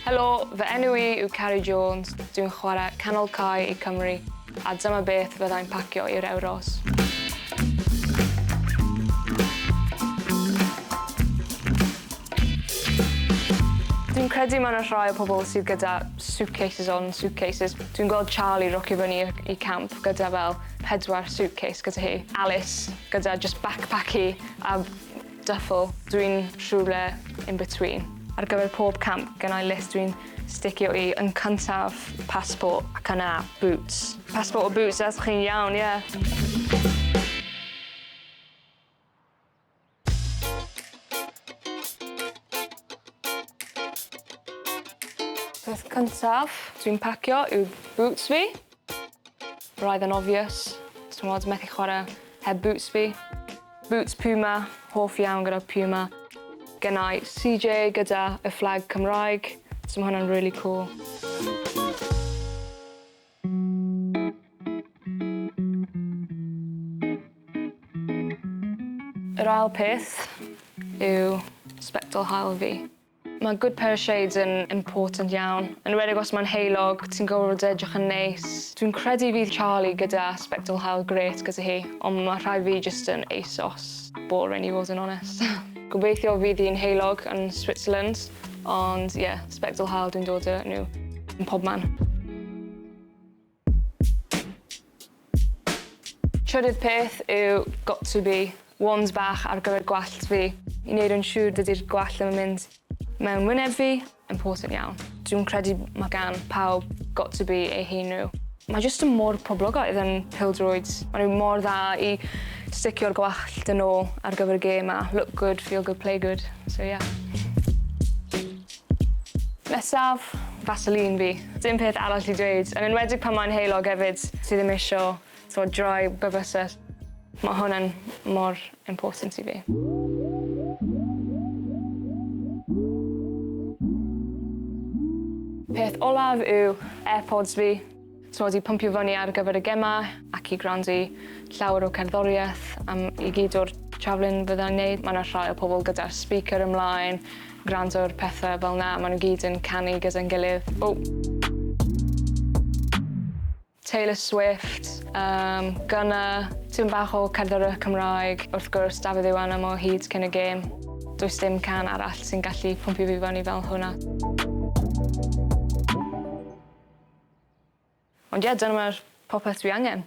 Helo, fy enw i yw Carrie Jones, dwi'n chwarae canol cae i Cymru, a dyma beth fyddai'n pacio i'r Euros. Dwi'n credu mae yna rhai o pobl sydd gyda suitcases on suitcases. Dwi'n gweld Charlie rocio fyny i camp gyda fel pedwar suitcase gyda hi. Alice gyda jyst backpack hi a duffel. Dwi'n rhywle in between. Ar gyfer pob camp gennai list dwi'n sticio i. Yn cyntaf, passport ac yna boots. Passport a boots, os chi'n iawn, ie. Peth cyntaf dwi'n pacio yw boots fi. Roedd yn obvious. T'mod, methu chwarae heb boots fi. Boots Puma, hoff iawn gyda Puma. Gynna i CJ gyda y fflag Cymraeg, so ma' hwnna'n rili cŵl. Yr ail peth yw sbectol haul fi. Mae good pair of shades yn important iawn. Yn enwedig os mae'n heulog, ti'n gorfod edrych yn neis. Dwi'n credu fydd Charlie gyda sbectol haul grêt gyda hi, ond mae rhai fi jyst yn ASOS. Boring i fod yn onest. Gobeithio fydd hi'n heulog yn Switzerland, ond ie, yeah, sbectol hael dwi'n dod â nhw yn pob man. Trydydd peth yw got to be, wands bach ar gyfer gwallt fi, i wneud yn siŵr dydy'r gwallt ddim yn mynd mewn wyneb fi important iawn. Dwi'n credu mae gan pawb got to be eu hun nhw. Mae jyst yn mor poblogaidd yn pildroed. Mae nhw mor dda i sticio'r gwallt yn ôl ar gyfer y gêm a look good, feel good, play good. So yeah. Nesaf, Vaseline fi. Dim peth arall i dweud, yn enwedig pan mae'n heulog hefyd. Ti ddim isio So dry bywysell. Mae hwn yn mor important i fi. Peth olaf yw Airpods fi. T'mod i pwmpio fyny ar gyfer y gemau ac i gwrando i llawer o cerddoriaeth am i gyd o'r travelling fyddai'n neud. Ma' 'na rhai o pobol gyda'r speaker ymlaen gwrando ar pethe fel 'na ma' nw gyd yn canu gyda'n gilydd. O! Taylor Swift, yym, Gunna, tipyn bach o cerddoriaeth Cymraeg, wrth gwrs Dafydd Iwanam o Hyd Cyn y Gêm. Does dim can arall sy'n gallu pwmpio fi fyny fel hwnna. Ond ie, dyna mae'r popeth dwi angen.